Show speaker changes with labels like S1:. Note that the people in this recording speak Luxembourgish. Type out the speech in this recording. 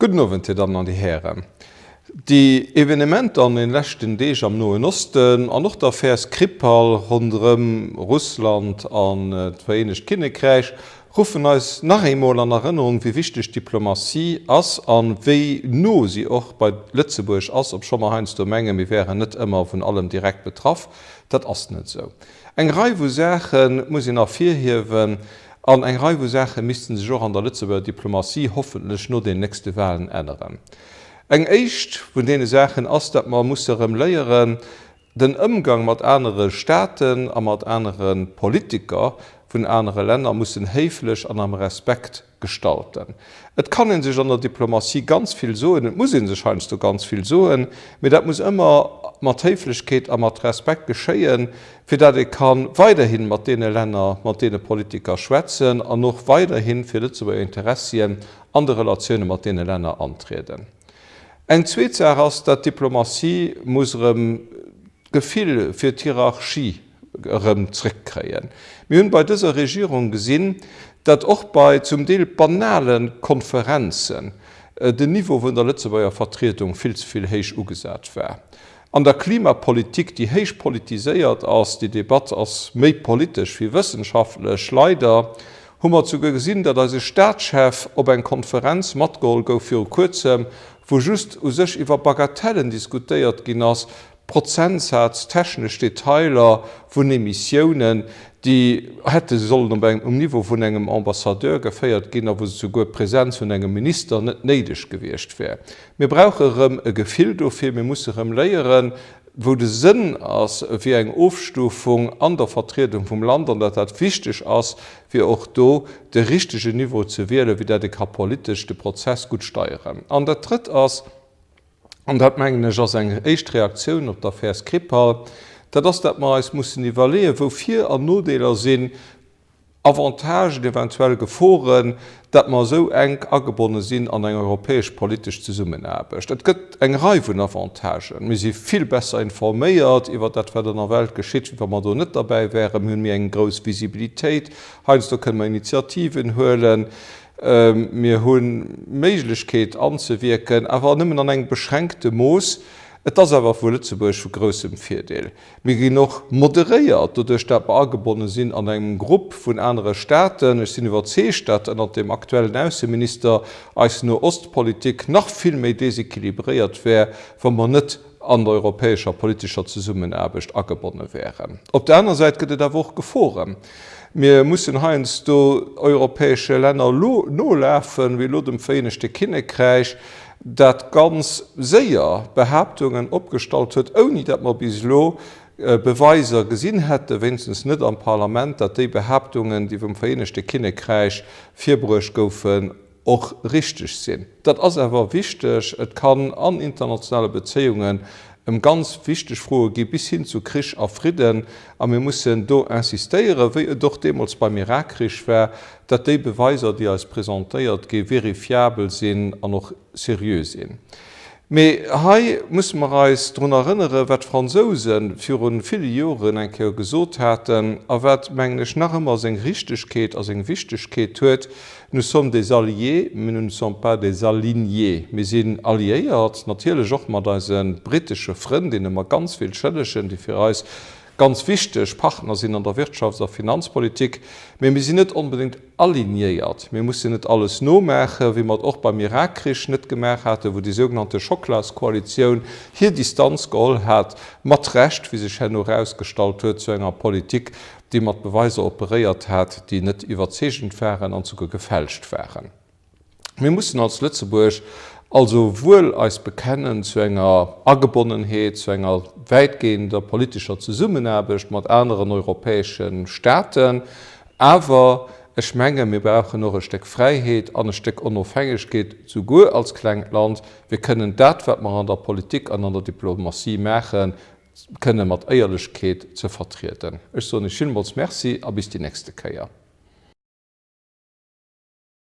S1: Gudden Owend, Dir Dammen an Dir Hären. Déi Evenementer an den leschten Deeg am Noen Osten an och d'Affär Skripal ronderëm Russland an d'Vereenegt Kinnekräich ruffen eis nach eemol an Erënnerung, wéi wichteg d'Diplomatie ass an wéi no si och bei Lëtzebuerg ass, obscho mer heiansdo menge mir wären net ëmmer vun allem direkt betraff. Dat ass net esou. Eng Rei vu Saache muss een ervirhiewen, an eng Rei vu Saache misste sech och an der Lëtzebuerger Diplomatie hoffentlech no den nächste Wahlen änneren. Eng éischt vun deene Saachen ass, datt mer musse erëm léieren, den Ëmgang mat anere Staaten a mat anere Politiker vun anere Länner mussen héiflech an am Respekt, Gestalten. Et kann ee sech an der Diplomatie ganz vill soen, et muss ee sech heiansdo ganz vill soen, mee dat muss ëmmer mat Héiflechkeet a mat Respekt geschéien, fir datt ee ka weiderhi mat deene Länner, mat deene Politiker schwätzen an och weiderhi fir Lëtzebuerger Interessien an de Relatioune mat deene Länner antrieden. Eng zweet Saach ass, dat d'Diplomatie muss erëm d'Gefill fir d'Hierarchie, erëm zréckkréien. Mir hunn bei dëser Regierung gesinn, datt och bei zum Deel banale Konferenzen den Niveau vun der Lëtzebuerger Vertriedung vill ze vill héich ugesat war. An der Klimapolitik, déi héich politiséiert ass, déi Debatt ass méi politesch wéi wëssenschaftlech, leider, hu mer esouguer gesinn, datt eise Staatschef op eng Konferenz matgeholl gouf viru Kuerzem, wou just u sech iwwer Bagatellen diskutéiert ginn ass, Prozentsaz, technesch Detailer vun Emissiounen, déi hätte sollen op engem, um Niveau vun engem Ambassadeur geféiert ginn a wou souguer d'Präsenz vun engem Minister net néideg gewiescht wär. Mir brauche erëm e Gefill dofir, mir musse erëm léieren, wou de Sënn ass fir eng Ofstufung an der Vertriedung vum Land an datt dat wichteg ass, fir och do de richtegen Niveau ze wielen, fir datt ee ka politesch de Prozess gutt steieren. An dat Drëtt ass. an dat mengen ech ass eng éischt Reaktioun op d'Affär Skripal, dat ass, dat mer eis mussen iwwerleeën, wou Vir an Nodeeler sinn, Avantagen, eventuell Geforen, dat mer esou enk agebonne sinn an eng europäesch politesch Zesummenaarbecht. Et gëtt eng Rei vun Avantagen. Mir si vill besser informéiert iwwer dat, wat an der Welt geschitt, wéi wa mer do net derbäi wäeren. Mir hunn méi eng grouss Visibilitéit. Heiansdo kënne mer Initiativen huelen. Mir hu Méiglechkeet anzewierken, awer nëmmen an engem beschränkte Mooss. Et ass awer vu Lëtzebuerg vu groussem Virdeel. Mir ginn och moderéiert, doduerch dat mer agebonne sinn an engem Grupp vun anere Staaten. Ech sinn iwwerzeegt, dat ënnert deem aktuellen Ausseminister eis Nohostpolitik nach vill méi desequilibréiert wär, wa mer net an der europäescher politescher Zesummenaarbecht agebonne wären. Op der aner Säit gëtt et awer och Geforen. Mir mussen heiansdo europäesche Länner elo nolafen, wéi elo dem Vereenegte Kinnekräich, dat ganz séier Behaaptungen opgestallt huet, ouni datt mer bis elo Beweiser gesinn hätten, wéinstens net am Parlament, datt déi Behaaptungen, déi vum Vereenegte Kinnekräich virbruecht goufen, och richteg sinn. Dat ass awer wichteg. Et kann an internationale Bezéiungen ëm ganz wichteg Froe gi bis hin zu Krich a Fridden, a mir mussen do insistéieren, wéi et och deemools beim Irakkrich war, datt déi Beweiser, déi eis presentéiert gi vérifiabel sinn an och seriö sinn. Mee hei musse mer eis drun erënneren, wat d'Fransouse viru ville Joren eng Kéier gesot haten a wat, mengen ech, nach ëmmer seng Richtegkeet a seng Wichtegkeet huet, Nous sommes des alliés, mais nous ne sommes pas des alignés. Mir sinn alliéiert, natierlech och mat eise britesche Frënn, deene mer ganz vill schëllegen, déi fir eis ganz wichteg Partner sinn an der Wirtschafts a Finanzpolitik, mä mir sinn net onbedéngt alignéiert. Mir mussen net alles nomaachen, wéi mer et och beim Irakkrich net gemaach haten, wou déi sougenannte Schocklaskoalitioun hir Distanz geholl hat, mat Recht, wéi sech herno erausgestallt huet, zu enger Politik, dee mat Beweiser operéiert hat, déi net iwwerzeegend waren an souguer gefälscht waren. Mir mussen als Lëtzebuerg also wuel eis bekennen zu enger Agebonnenheet, zu enger wäitgehender politescher Zesummenaarbecht mat aneren europäesche Staaten, awer ech menge mir brauchen och e Stéck Fräiheet an e Stéck Onofhängegkeet, souguer als klengt Land. Mir kënnen dat, wat mer an der Politik an an der Diplomatie maachen, kënne mat Éierlechkeet ze vertrieden. Ech soen Iech villmools Merci a bis déi nächste Kéier.